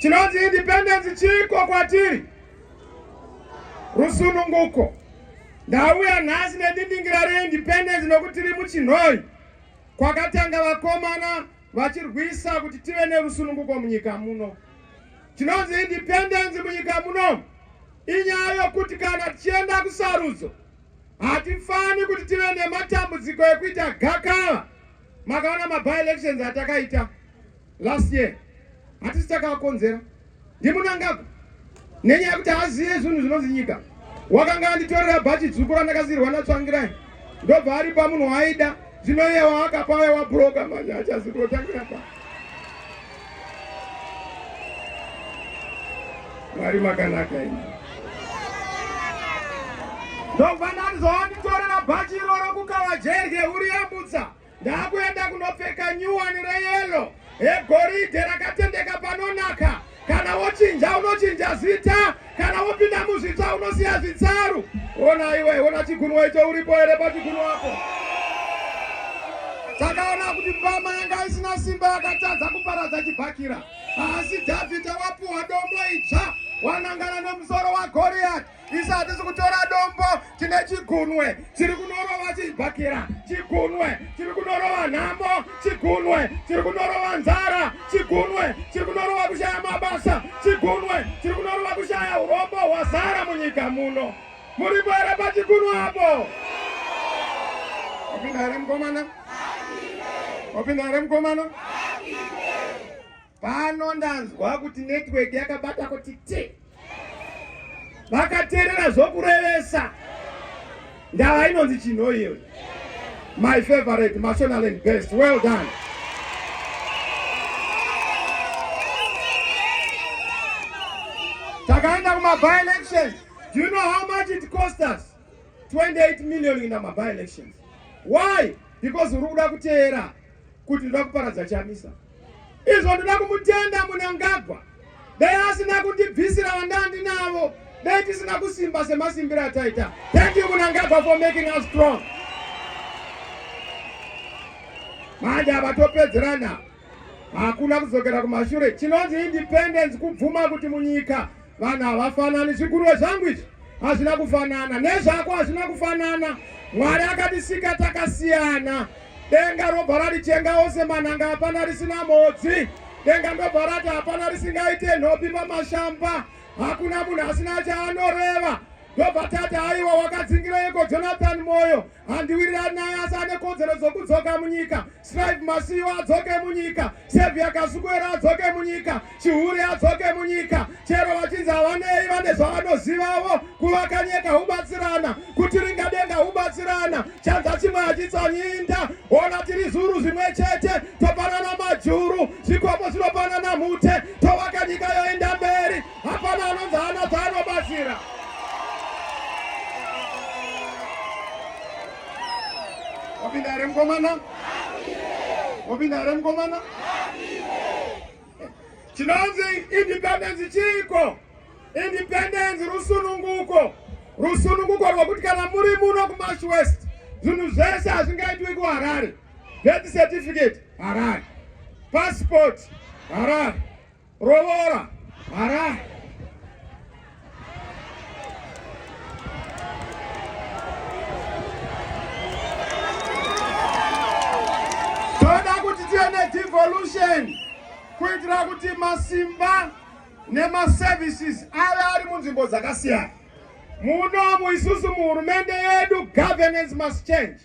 Chinonzi independence chiiko kwatiri? Rusununguko. Ndauya nhasi nedindingira reindependence nokuti tiri muchinhoi kwakatanga vakomana vachirwisa kuti tive nerusununguko munyika muno. Chinonzi independence munyika muno inyaya yokuti kana tichienda kusarudzo hatifani kuti tive nematambudziko ekuita gakava. Makaona maby elections atakaita last year hatisi takaakonzera ndimunangagwa nenyaya yekuti haazive zvinhu zvinonzi nyika wakanga anditorera bhachi dzvuku randakasirwa natsvangirai ndobva ari pamunhu waaida zvino iye waakapaya wabhuroka manje achazi kunotangira pa mwari makanaka ini ndobva ndandizovanditorera bhachi iroro kukava jerye uri yambutsa Ndakuenda kunopfeka nyuwani reyelo egoridhe rakatendeka panonaka. Kana wochinja unochinja zita, kana wopinda muzvitsva unosiya zvitsaru. Ona iwe, ona chigunwa icho uripo here pachigunwa apo? Takaona kuti mbama yanga isina simba yakatadza kuparadza chibhakira. Asi Dhavhidha wapuwa dombo idzva wanangana nemusoro waGoriyati. isu hatisi kutora dombo tine chigunwe chiri kunorova chibhakira chigunwe chiri kunorova nhamo chigunwe chiri kunorova nzara chigunwe chiri kunorova kushaya mabasa chigunwe chiri kunorova kushaya urombo hwazara munyika muno muripo here pachigunwe apo wapinda here mukomana wapinda here mukomana Pano ndanzwa kuti network yakabata kuti ti vakaterera zvokurevesa ndava inonzi chinho iyoyo. My favorite Mashonaland best. Well done. Takaenda kuma by elections. Do you know how much it cost us? 28 million in my by elections. Why? Because uri kuda kuteera kuti ndoda kuparadza chamisa. izvo ndoda kumutenda munangagwa dai asina kundibvisira vandandi navo dai tisina kusimba semasimbiro ataita thank you munangagwa for making us strong manje avatopedzerana hakuna kudzokera kumashure chinonzi independence kubvuma kuti munyika Vanhu havafanani, zviguruve zvangu izvi hazvina kufanana, nezvako hazvina kufanana. Mwari akatisika takasiyana. Denga robva rarichenga ose manhanga, hapana risina mhodzi. Denga ndobva rati hapana risingaite nhopi pamashamba, hakuna munhu asina chaanoreva. Ndobva tati aiwa, wakadzingireiko Jonathan Moyo? Handiwirirani naye asi ane kodzero dzokudzoka munyika. Strive Masiyiwa adzoke munyika. Saviour Kasukuwere adzoke munyika. Chihure adzoke munyika. Chero vachinzi havanei vane zvavanozivavo kuvaka nyika hubatsirana. Kuti ringadenga hubatsirana. Chanza chimwe hachitsanyinda. Ona tiri zuru zvimwe chete. Topanana majuru. Zvikomo zvinopanana mhute. Tovaka nyika yoenda mberi. Hapana anonzi haana paanobatsira. Wapinda here mukomana? Wapinda here mukomana? Chinonzi independence chiiko? Independence rusununguko. Rusununguko rwekuti kana muri muno kuMash West zvinhu zvese hazvingaitwi kuharare death certificate harare passport harare Rovora hara toda kuti tiende devolution kuitira kuti masimba nemaservices ave ari munzvimbo dzakasiyana muno muisusu muhurumende yedu governance must change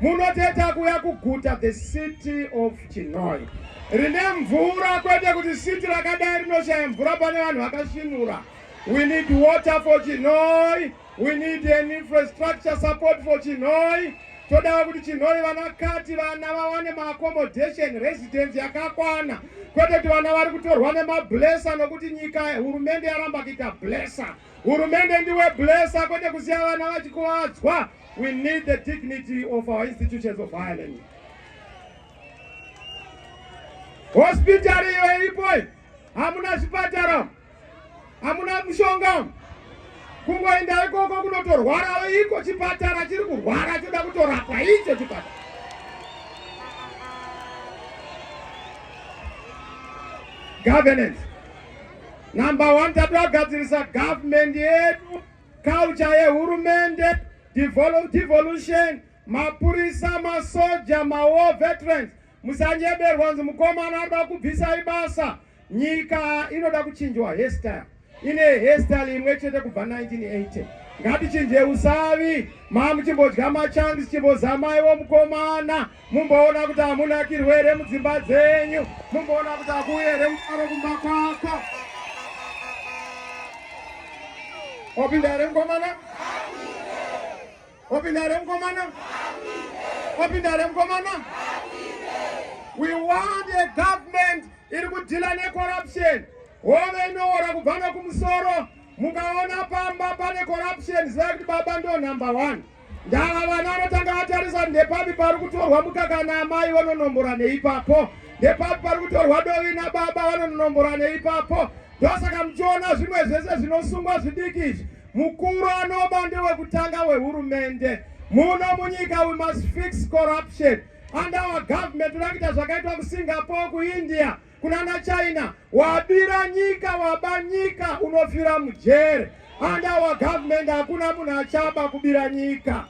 Munoteta kuya kuguta the city of Chinhoyi rine mvura kwete kuti city rakadai rinoshaya mvura pane vanhu vakashinura. We need water for Chinhoyi. We need an infrastructure support for Chinhoyi. Todawo kuti Chinhoyi vana kati vana vawane maaccommodation residence yakakwana kwete kuti vana vari kutorwa nemablesa nokuti nyika hurumende yaramba kuita blesa. Hurumende ndiwe blesser kwete kusiya vana vachikuvadzwa. We need the dignity of our institutions of higher learning. Hospital iyo iripo hamuna zvipatara, hamuna mushonga, kungoenda ikoko kunotorwara iko chipatara chiri kurwara choda kutorapwa icho chipatara. Governance Number one, tatogadzirisa government yedu, culture yehurumende, devolution, mapurisa, masoja, mawar veterans. Musanyeberwa nzi mukomana anoda kubvisai basa. Nyika inoda kuchinjwa hairstyle. Ine hairstyle imwe chete kubva 1980. Ngatichinje usavi, mamuchimbodya machangs chimbozamaiwo mukomana. mumboona kuti hamuna kirwere mudzimba dzenyu mumboona kuti hakuuye here mufaro kumba kwako opinda here mukomana opinda here mukomana opinda here mukomana we want a government iri kudhila necorruption hove inoora kubva nekumusoro mukaona pamba pane corruption zivai kuti baba ndo number one Ndava vana anotanga atarisa ndepapi pari kutorwa mukaka naamai vanonombora neipapo, ndepapi pari kutorwa dovi nababa vanononombora neipapo. Ndosaka muchiona zvimwe zvese zvinosungwa zvidiki izvi. Mukuru anoba ndewekutanga wehurumende muno munyika. We must fix corruption under our government. Toda kuita zvakaitwa kuSingapore, kuIndia. kunana China wabira nyika waba nyika unofira mujere and our government hakuna munhu achaba kubira nyika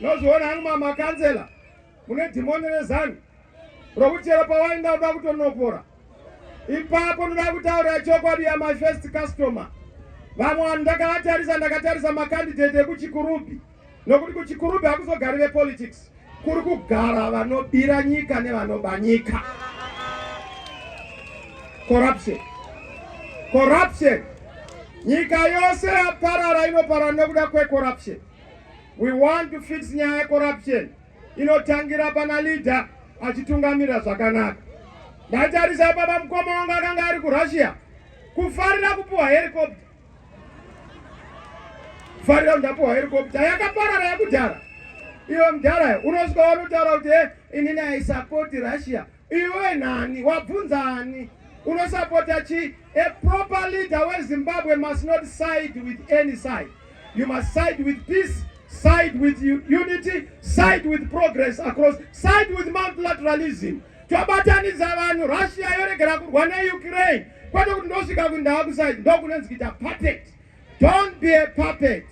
nozviona hangu mamakanzela mune dhimoni rezanu rokuti chero pawaenda uda kutonopora ipapo unoda kutaurira chokwadi ya my first customer vamwe vanhu ndakavatarisa ndakatarisa makandidate ekuchikurubhi nokuti kuchikurubhi hakuzogari vepolitics kuri kugara vanobira nyika nevanoba nyika corruption corruption nyika yose yaparara inoparara nekuda kwecorruption we want to fix nyaya yecorruption inotangira pana leader achitungamira zvakanaka ndatarisa ipapa mukoma wangu akanga ari kurussia kufarira kupiwa helicopter farira ndapuwa helicopter yakaparara yakudhara iwe mudhara unosvika wanotaura kuti e inini aisapoti russia iwe nani wabvunza ani unosapota chii a proper leader wezimbabwe must not side with any side you must side with peace side with unity side with progress across side with multilateralism tobatanidza vanhu russia yoregera kurwa neukraine kwete kuti ndosvika kundakusaid ndokunonzi kuita puppet don't be a puppet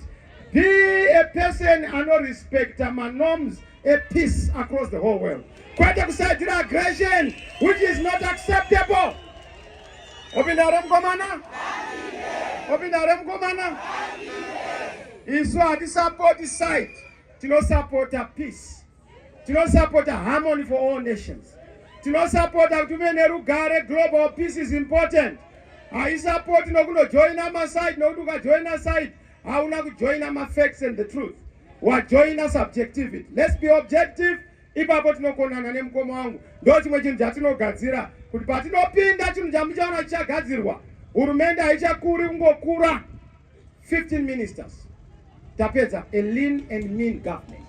be a person anorespecta manorms epeace across the whole world kwete kusaidzira aggression which is not acceptable opinda hre mukomana opinda hre mukomana isu hatisapoti site tinosapota peace tinosapota harmony for all nations tinosapota kuti uve nerugare global peace is important haisapoti nokunojoina maside nokuti ukajoina side hauna kujoina mafacts and the truth wajoina subjectivity let's be objective ipapo tinokonana nemukoma wangu ndo chimwe chinhu chatinogadzira kuti patinopinda chinhu chamuchaona chichagadzirwa hurumende haichakuri kungokura 15 ministers tapedza a lean and mean government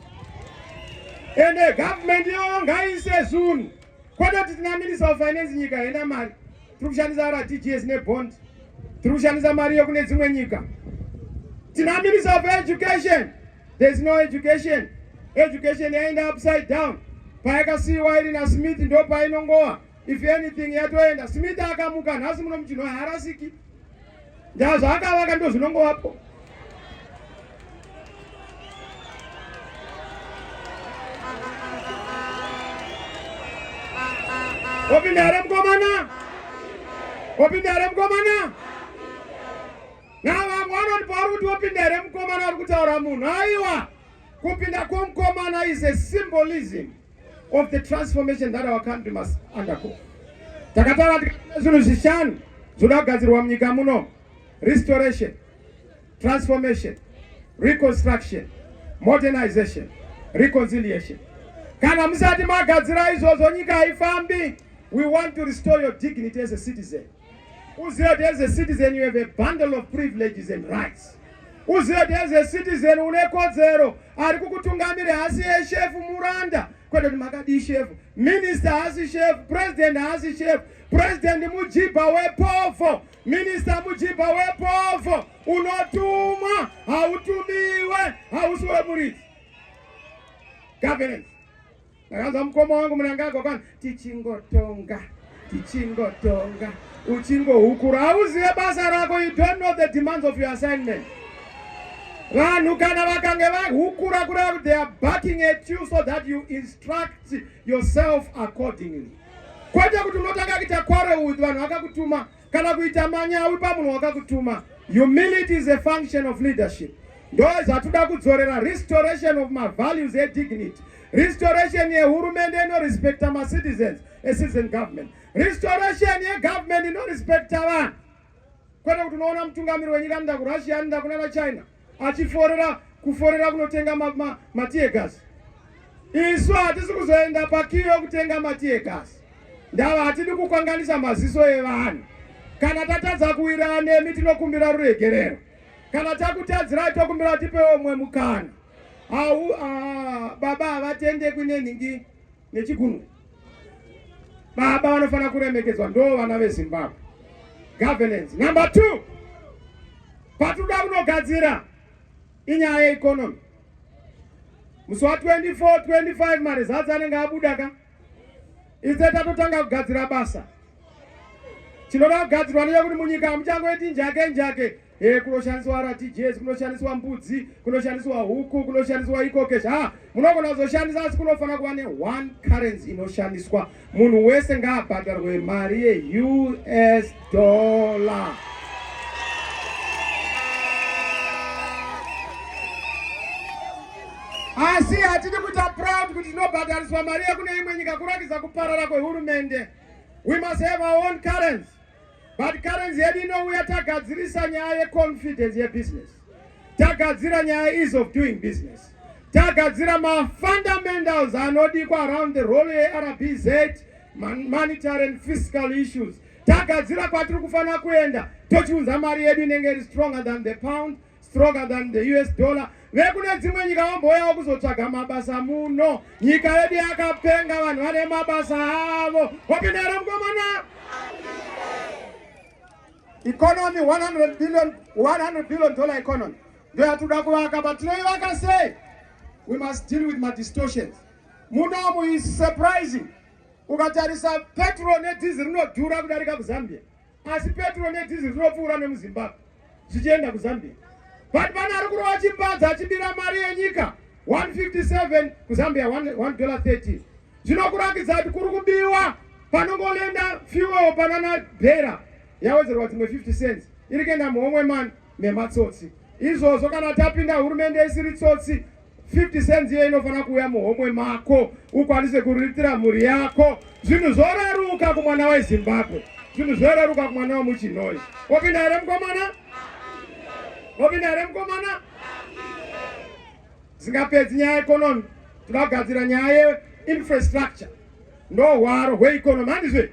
and a government yoyo ngaise zunhu kwete kuti tina minister of finance nyika haina mari tiri kushandisa rtgs nebond tiri kushandisa mari yekune dzimwe nyika tina minister of education there is no education education yaenda upside down payakasiyiwa iri nasmith ndo painongowa if anything yatoenda smith akamuka nhasi muno muchinhu haarasiki ndaa zvaakavaka ndo zvinongovapo opinda here mukomana opinda here mukomana na vamwe vanoti pauri kuti opinda here mukomana uri kutaura munhu aiwa kupinda kwomukomana is a symbolism of the transformation that our country must undergo. Takataura tikana zvinhu zvishanu zvinoda kugadzirwa munyika muno. Restoration, transformation, reconstruction, modernization, reconciliation. Kana musati magadzira izvozvo nyika haifambi. We want to restore your dignity as a citizen. Uzive kuti as a citizen you have a bundle of privileges and rights. Uzive kuti as a citizen une kodzero, ari kukutungamira haasi yeshefu muranda kwete kuti makadii shefu, minister haasi shefu, president haasi shefu, president mujibha wepovo, minister mujibha wepovo, unotumwa hautumiwe, hausi wemuridzi governance Ndakanzwa mukoma wangu Munangagwa kwani tichingotonga tichingotonga uchingohukura hauzive basa rako you don't know the demands of your assignment vanhu kana vakange vahukura kureva kuti they are backing at you so that you instruct yourself accordingly kwete kuti unotanga kuita quarrel with vanhu vakakutuma kana kuita manyawi pamunhu wakakutuma. Humility is a function of leadership. Ndo zvatoda kudzorera restoration of my values e dignity. Restoration ye hurumende ino respecta ma citizens, a citizen government. Restoration ye government ino respecta vanhu. Kwete kuti unoona mutungamiri wenyika anoenda ku Russia, anoenda kuna China. achiforera kuforera kunotenga matiyegasi isu hatisi kuzoenda pakiyo yokutenga matiyegasi ndava hatidi kukwanganisa maziso evanhu kana tatadza kuwirana nemi tinokumbira ruregerero kana takutadzirai tokumbira tipewo umwe mukana au ah, baba havatendekwi nenhingi nechigunwe. Baba vanofanira kuremekedzwa, ndoo vana veZimbabwe. Governance number two, patinoda kunogadzira inyaya yeeconomy. Musi wa 24 25 marizatsi anenge abuda ka ise tatotanga kugadzira basa. Chinoda kugadzirwa ndechekuti munyika hamuchangoiti njake njake. Eh, kunoshandiswa RTGS, kunoshandiswa mbudzi, kunoshandiswa huku, kunoshandiswa ikoke zva munogona kuzoshandisa asi kunofanira kuva ne one currency inoshandiswa. Munhu wese ngaabhadharwe mari ye US dollar. Asi hatidi kuita proud kuti tinobhadhariswa mari yekune imwe nyika kurakidza kuparara kwehurumende. We must have our own currency. but currency yedu inouya tagadzirisa nyaya yeconfidence yebusiness tagadzira nyaya ease of doing business tagadzira mafundamentals anodikwa around the role yerbz monetary and fiscal issues tagadzira kwatiri kufanira kuenda tochiunza mari yedu inenge iri stronger than the pound stronger than the us dollar vekune dzimwe nyika vambouyawo kuzotsvaga mabasa muno nyika yedu yakapenga vanhu vane mabasa avo wapinda here mukomana economy 100 billion 100 billion dollar economy ndo yatinoda kuvaka but tinoivaka sei we must deal with madistortions munomu is surprising ukatarisa petrol nedhizi rinodhura kudarika kuzambia asi petro nedhiziri rinopfuura nemuzimbabwe zvichienda kuzambia but pane ari kurova chimbadzo achibira mari yenyika 157 kuzambia 113 zvinokurakidza kuti kuri kubiwa panongoenda fuel panana bhera yawedzerwa dzimwe 50 cents iri kuenda muhomwe mani nematsotsi izvozvo kana tapinda hurumende isiri tsotsi 50 cents iyo inofanira kuuya muhomwe mako ukwanise kuriritira mhuri yako zvinhu zvoreruka kumwana wezimbabwe zvinhu zvoreruka kumwana wemuchinoi wapinda here mukomana wapinda here mukomana zingapedzi nyaya yeekonomi tinogadzira nyaya yeinfrastructure ndohwaro hweekonomi handizve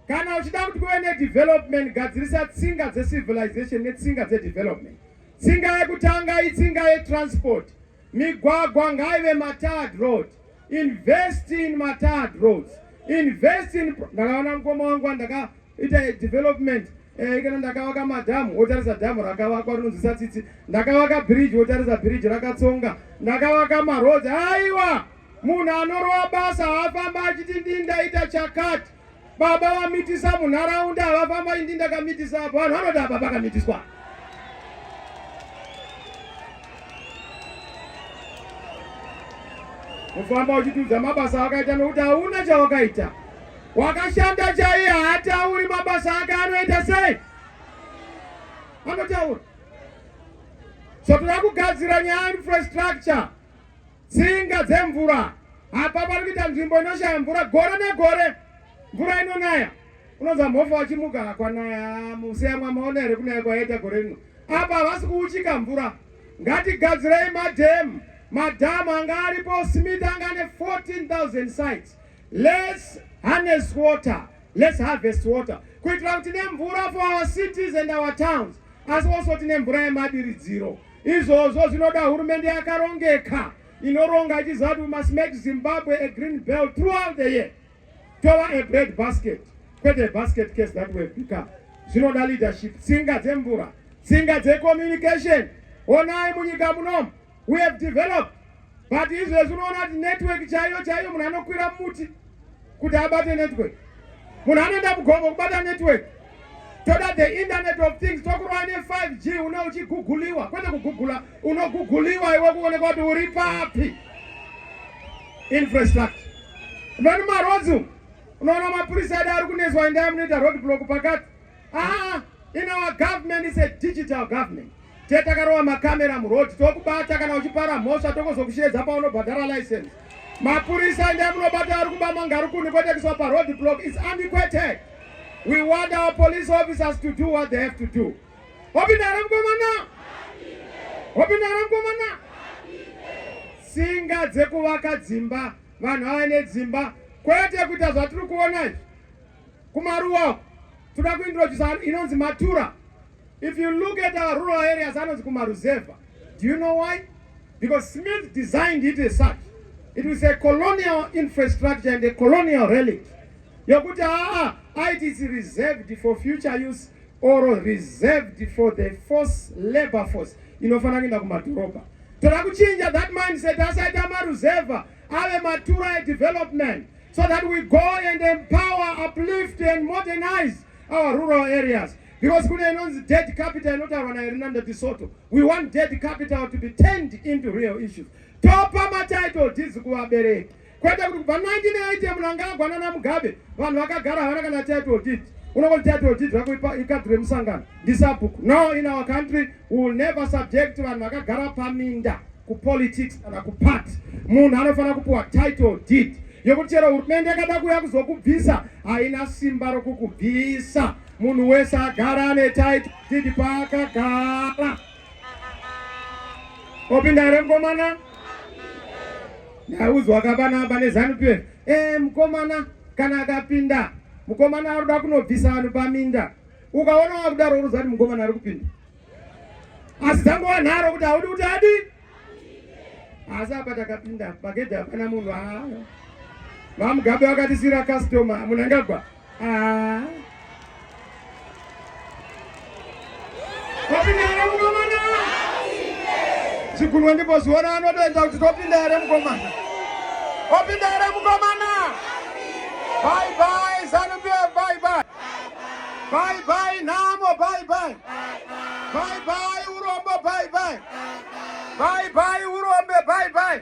kana uchida kuti kuve nedevelopment gadzirisa tsinga dzecivilization netsinga dzedevelopment Tsinga yekutanga itsinga yetransport. Migwagwa ngaive matard road. Invest in matard roads. Invest in ndakaona mukoma wangu wandakaita development eh, kana ndakavaka madhamu wotarisa dhamu rakavakwa rinonzwisa tsitsi ndakavaka bridge wotarisa bridge rakatsonga ndakavaka maroads aiwa munhu anorova basa haafamba achiti ndindaita chakati Baba vamitisa munharaunda havafamba indi ndakamitisa apo vanhu vanoti apa pakamitiswa. Kufamba uchitiudza mabasa awakaita nokuti hauna chawakaita. Wakashanda chaiye haatauri mabasa ake anoita sei? Anotaura. So tinoda kugadzira nyaya infrastructure. Tsinga dzemvura apa pari kuita nzvimbo inoshaya mvura gore negore mvura inonaya unonzwa mhofa wachimuka kwanaya musi yamwa maona here kunaya kwayaita gore rino apa havasi kuuchika mvura ngatigadzirei madhemu madhamu anga aripo smith anga ane 14000 sites lets harness water lets harvest water kuitira kuti nemvura for our cities and our towns asi also tine mvura yemadiridziro Izvozvo zvinoda hurumende yakarongeka inoronga ichiziva kuti we must make Zimbabwe a green belt throughout the year tova a bread basket kwete basket case that we've become. Zvinoda leadership, tsinga dzemvura, tsinga dzecommunication. Onai munyika munomu we have developed but izvezvi unoona kuti network chaiyo chaiyo munhu anokwira muti kuti abate network munhu anoenda mugomo kubata network toda the internet of things tokurova ne5 g une uchiguguliwa kwete kugugula unoguguliwa iwe kuonekwa kuti uri papi infrastructure vani marodzi unoona mapurisa edu ari kunetswa endaya munoita road block pakati Ah, in our government is a digital government. Tete takarowa makamera muroad tokubata kana uchipara mhosva tokozokusheedza paunobhadhara license. Mapurisa ndiye munobata ari kuba mangarukuni kotekiswa paroad block is antiquated. We want our police officers to do what they have to do. Hopindara mkomana. Hopindara mkomana. Singa dzekuvaka dzimba vanhu ava nedzimba kwete kuita zvatiri kuona izvi kumaruwa toda kuintrodusa inonzi matura if you look at our rural areas anonzi kumaruzevha do you know why because smith designed it as such it was a colonial infrastructure and a colonial relic yokuti aa it is reserved for future use or reserved for the force labor force inofanira kuenda kumadhorobha toda kuchinja that mindset asaita maruzevha ave matura edevelopment so that we go and empower uplift and modernize our rural areas because kune inonzi dead capital inotaurwa naerinanda tisoto we want dead capital to be turned into real issues topa matitle deeds kuvabereki kwete kuti kubva 1980 munhu anga agwana namugabe vanhu vakagara havana kana title deed unongoti title deed rako ikadhi remusangano ndisabhuku no in our country We will never subject vanhu vakagara paminda kupolitics kana kuparty. Munhu anofanira kupiwa title deed yekuti chero hurumende yakada kuuya kuzokubvisa haina simba rokukubvisa. Munhu wese agara ane title deed paakagara. Opinda here mukomana? Ndaudzwa kapana pane Zanu PF. Eh, mukomana kana akapinda mukomana ari kuda kunobvisa vanhu paminda Ukaona wakudaro unoziva kuti mukomana ari kupinda. Asi dzangu wanharo kuti haudi kuti adi. Asi apa takapinda pagedhi hapana munhu haa. VaMugabe vakatisira customer munangagwa. Haa. Wapinda here mukomana? Chigunwe ndipo zviona anotoita kuti topinda here mukomana? Wapinda here mukomana? Bye bye, Zanu PF, bye bye. Bye bye nhamo bye bye. Bye bye urombo bye bye. Bye bye urombe bye bye.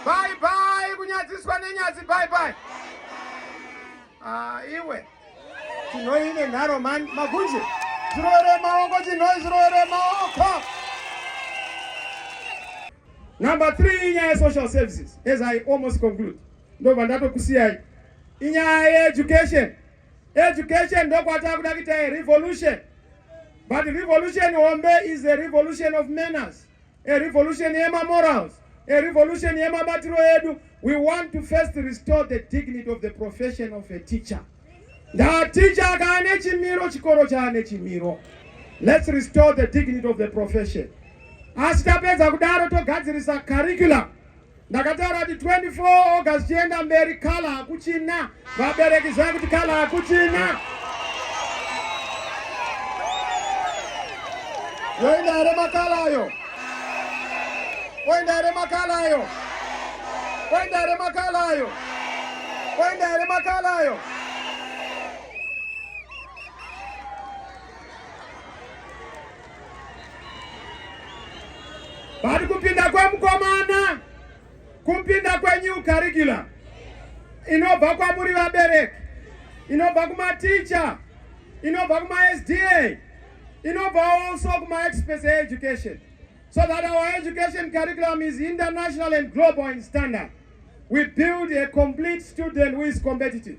Bye bye kunyadziswa nenyadzi bye bye. Ah iwe. Tinoine nharo man magunje. Zvirowere maoko chinoi zvirowere maoko. Number 3 inyaya social services as I almost conclude. Ndobva ndatokusiyai. Inyaya ye education. Education ndokwatava kuda kuita a revolution. But revolution hombe is a revolution of manners, a revolution yema morals, a revolution yema batiro edu. We want to first restore the dignity of the profession of a teacher. Nda teacher akaane chimiro chikoro chaane chimiro. Let's restore the dignity of the profession. Asi tapedza kudaro togadzirisa curriculum ndakataura kuti 24 august chienda mberi kala hakuchina vabereki zvaa kuti kala hakuchina yoenda here makala ayo oenda here makala ayo oenda here makala ayo oenda here makala ayo But kupinda kwemukomana kupinda kwenew curriculum inobva kwamuri vabereki, inobva kumaticha, inobva kumaSDA, inobva also kumaexperts education so that our education curriculum is international and global in standard. We build a complete student who is competitive.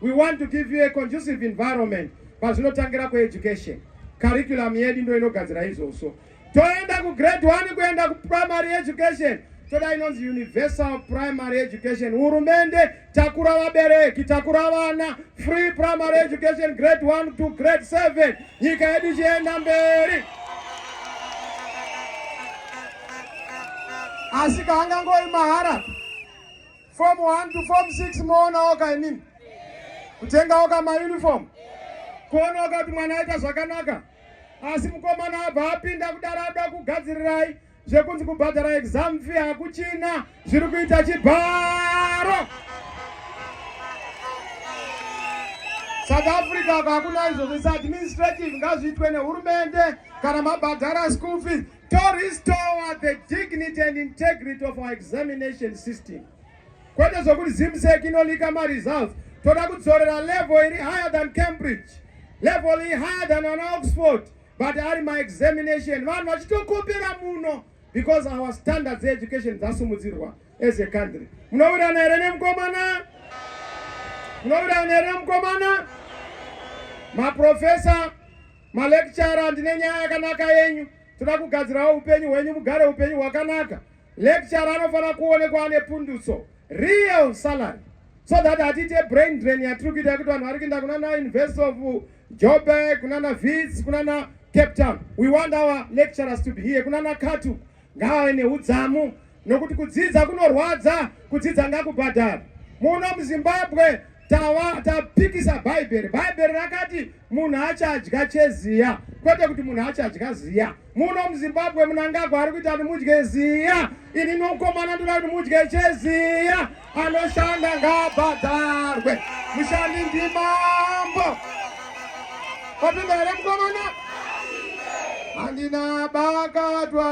We want to give you a conducive environment pazvinotangira kueducation. Curriculum yedu ndo inogadzira izvozvo. Toenda ku grade 1 kuenda ku primary education. Toda inonzi universal primary education. Hurumende takura vabereki, takura vana, free primary education grade 1 to grade 7. Nyika yedu ichienda mberi. Asi kaangangoyi mahara. Form 1 to form 6 moona oka imini kutenga oka mauniform kuona oka kuti mwana aita zvakanaka asi mukomana abva apinda kudaro ada kugadzirirai zvekunzi kubhadhara exam fee hakuchina zviri kuita chibharo south africa kakuna izvozvo is administrative ngazviitwe nehurumende kana mabhadhara school fees To restore the dignity and integrity of our examination system. Kwete zvokuti Zimsec inolika maresults. Toda kudzorera level iri higher than Cambridge. Level iri higher than an Oxford. But ari my examination. Vanhu vachitokopera muno because our standards education dzasumudzirwa as a country. Munowirirana here nemukomana? Munowirirana here nemukomana? Maprofessor Malecturer ndine nyaya yakanaka yenyu. Toda kugadzirawo upenyu hwenyu mugare upenyu hwakanaka. Lecturer anofanira kuonekwa ane pundutso. Real salary. So that hatite brain drain yatiri kuita yekuti vanhu vari kuenda kuna na University of Joburg, kuna na Wits, kuna na Cape Town. We want our lecturers to be here. Kuna na Katu. Ngaave neudzamu nokuti kudzidza kunorwadza, kudzidza ngakubhadhara. Muno muZimbabwe tava tapikisa bhaibheri bhaibheri rakati munhu achadya cheziya kwete kuti munhu achadya ziya muno muzimbabwe munangagwa ari kuita kuti mudye ziya ini nokomana ndoda kuti mudye cheziya Anoshanda ngaabhadharwe. Mushandi ndimambo. Wapinda here mukomana? Handina bakatwa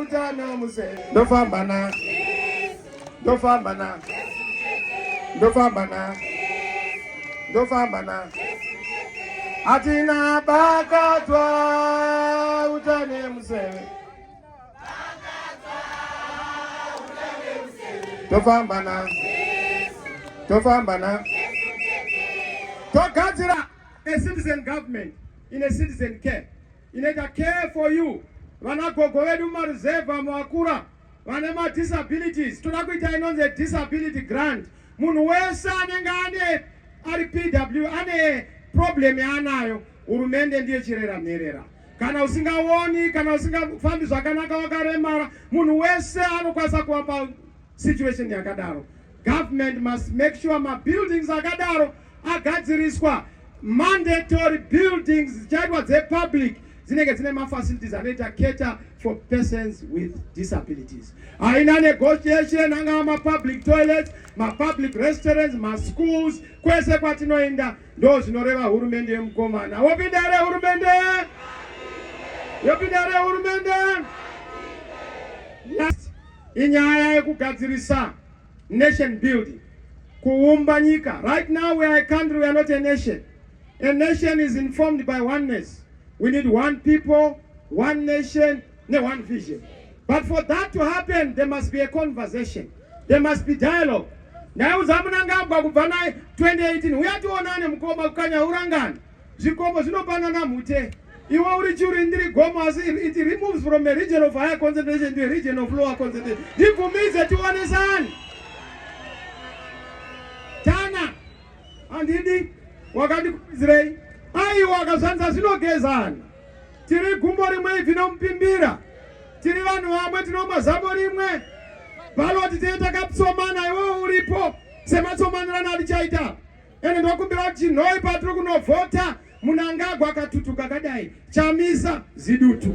utano muse. Ndofamba na. Ndofamba na. Ndofamba na. Ndofamba na. Hatina bakatwa utano muse. tofamba na tofamba na togadzira a citizen government in a citizen care inoita care for you vana gogo vedu mumaruzevha muakura vane madisabilities toda kuita inonzi disability grant munhu wese anenge ane ari pw ane problem yaanayo hurumende ndiye chirera mherera kana usingaoni kana usingafambi zvakanaka wakaremara munhu wese anokwanisa kuva pasituation yakadaro government must make sure mabuildings akadaro agadziriswa mandatory buildings dzichaitwa dzepublic dzinenge dzine mafacilities anoita cater for persons with disabilities haina negotiation angava mapublic toilets mapublic restaurants maschools kwese kwatinoenda Ndozvinoreva hurumende yemukomana. Wopinda here hurumende? Yopinda here hurumende? Last inyaya yekugadzirisa nation building, kuumba nyika. Right now we are a country, we are not a nation. A nation is informed by oneness. We need one people, one nation, ne one vision but for that to happen there must be a conversation there must be dialogue ndaiudza munangagwa kubva naye 2018 uya tionane mukoma kukanya urangani zvikomo zvinopanana mhute iwe uri churi ndiri gomo asi it removes from a region of higher concentration to a region of lower concentration ndibvumize tionesani tana handidi wakandikuizirei aiwa akazvanza zvinogezana tiri gumbo rimwe ibvi nomupimbira tiri vanhu vamwe tinomwa zamo rimwe baloti tee takatsomana iwewo uripo sematsomanirana atichaita ende ndokumbira kuti chinhoi patiri kunovhota munangagwa akatutuka kadai chamisa zidutu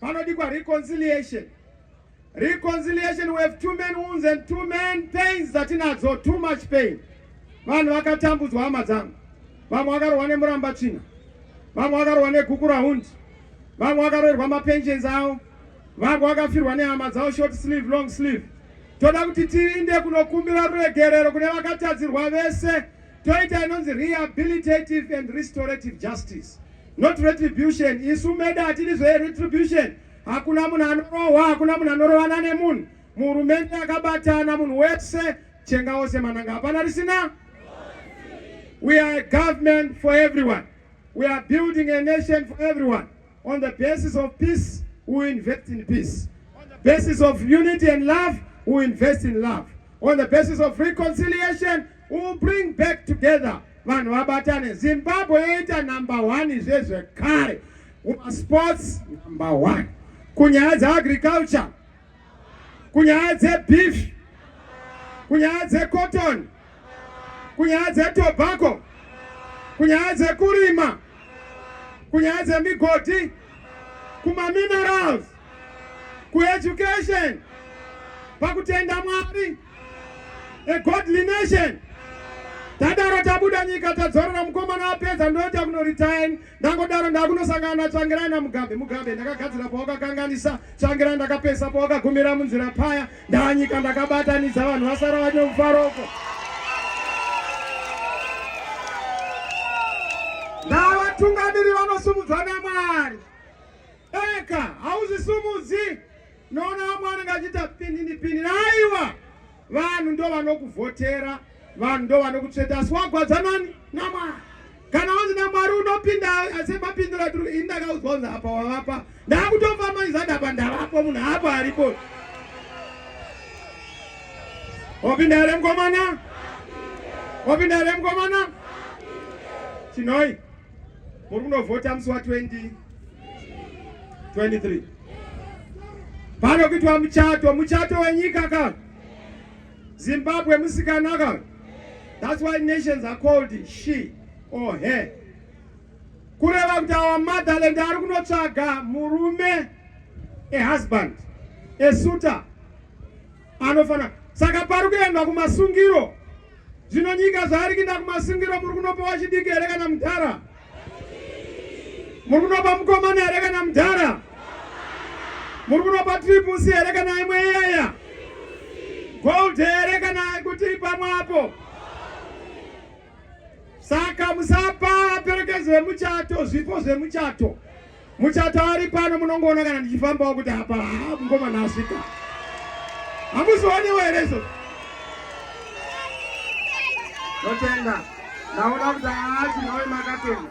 Panodikwa reconciliation. Reconciliation we have too many wounds and too many pains dzatinadzo too much pain. Vanhu vakatambudzwa hama dzangu. Vamwe vakarohwa nemuramba tsvina. Vamwe vakarohwa negukura hundi. Vamwe vakaroerwa mapensions avo. Vamwe vakafirwa nehama dzavo short sleeve long sleeve. Toda kuti tiinde kunokumbira ruregerero kune vakatadzirwa vese. toita inonzi rehabilitative and restorative justice not retribution isu meda hatidi zveretribution hakuna munhu anorohwa hakuna munhu anorovana nemunhu muhurumende akabatana munhu wese chenga wose mananga hapana risina we are a government for everyone we are building a nation for everyone on the basis of peace we invest in peace on the basis of unity and love we invest in love on the basis of reconciliation We will bring back together vanhu vabatane zimbabwe yoita number one zvezvekare kumasports number one kunyaya dzeagriculture kunyaya dzebeef kunyaya dzecotton kunyaya dzetobacco kunyaya dzekurima kunyaya dzemigodhi kumaminerals kueducation pakutenda mwari a godly nation tadaro tabuda nyika tadzorera mukomana apedza ndoita kunorityn ndangodaro ndakunosangana natsvangirai namugabe mugabe ndakagadzira pawakakanganisa tsvangirai ndakapesa pawakagumira munzira paya ndanyika ndakabatanidza vanhu vasara vane mufaroko ndavatungamiri vanosumudzwa namwari eka hauzvisumudzi Noona vamwe vanenge vachiita pinini pinini. Aiwa, vanhu ndo vanokuvhotera, vanhu ndo vanokutsveta, asi wagwadza nani? NaMwari. Kana wanzi naMwari unopinda, asi mapindura tiri ini ndakaudzwa kunzi apa wavapa, ndakutofa maizada apa ndavapo, munhu apa aripo. Wapinda here mkomana? Wapinda here mkomana? Chinoi. muri kunovhota musi wa 20 23 pano kuitwa muchato muchato wenyika ka zimbabwe musikana ka that's why nations are called she or her kureva kuti awa motherland ari kunotsvaga murume a husband a suitor anofana saka pari kuendwa kumasungiro zvino nyika zvaari kuinda kumasungiro muri kunopa wachidiki here kana mudhara muri kunopa mukomana here kana mudhara muri kunopa tripusi here kana imwe iyaya gold here kana kuti pamwe apo saka musapa perekedzo yemuchato zvipo zvemuchato Muchato ari pano munongoona kana ndichifambawo kuti apa haa mukomana asvika. Hamuzioniwo here izvozvo? Notenda. Ndaona kuti haa tinove makatenda.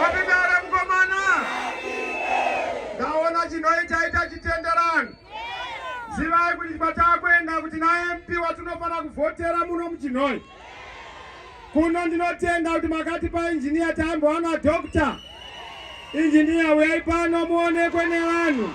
Vapindare mukomana. Ndaona chinoita ita chitenderano. Zivai kuti kwatakuenda kuti naMP watinofanira kuvhotera muno muChinhoyi. Kuno ndinotenda kuti makati painjiniya taimbowana doctor. Injiniya uyai pano muonekwe nevanhu.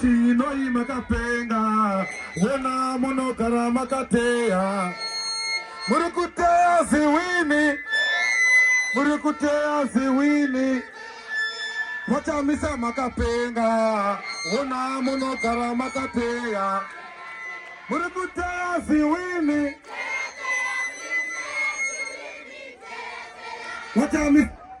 Chinoi makapenga wona munogara makateya muri kuteya ziwini muri kuteya ziwini machamisa makapenga wona munogara makateya muri kuteya ziwini machamisa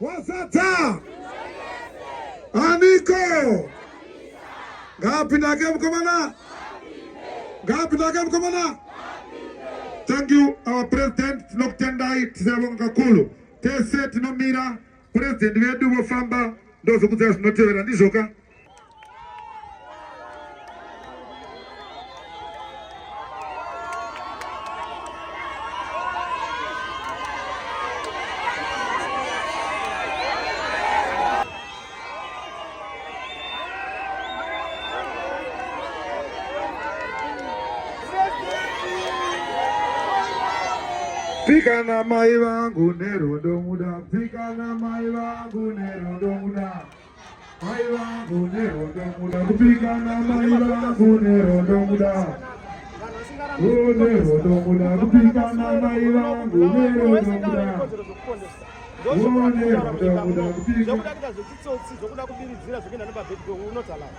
Wazadza aniko? Ngapi ndake mkomana? Ngapi ndake mkomana? Thank you our president, tinokutendai tisabonga kakulu tese tinomira president vedu vofamba ndozokudza zvinotevera ndizvoka Pika na mai vangu nerudo muda, pika na mai vangu nerudo muda. Mai vangu nehondo muda kupikana mai vangu nehondo muda nehondo muda kupikana mai vangu nehondo muda zvokuda kuita zvechitsotsi zvokuda kubiridzira zvokuenda nepabhedhi unotalawa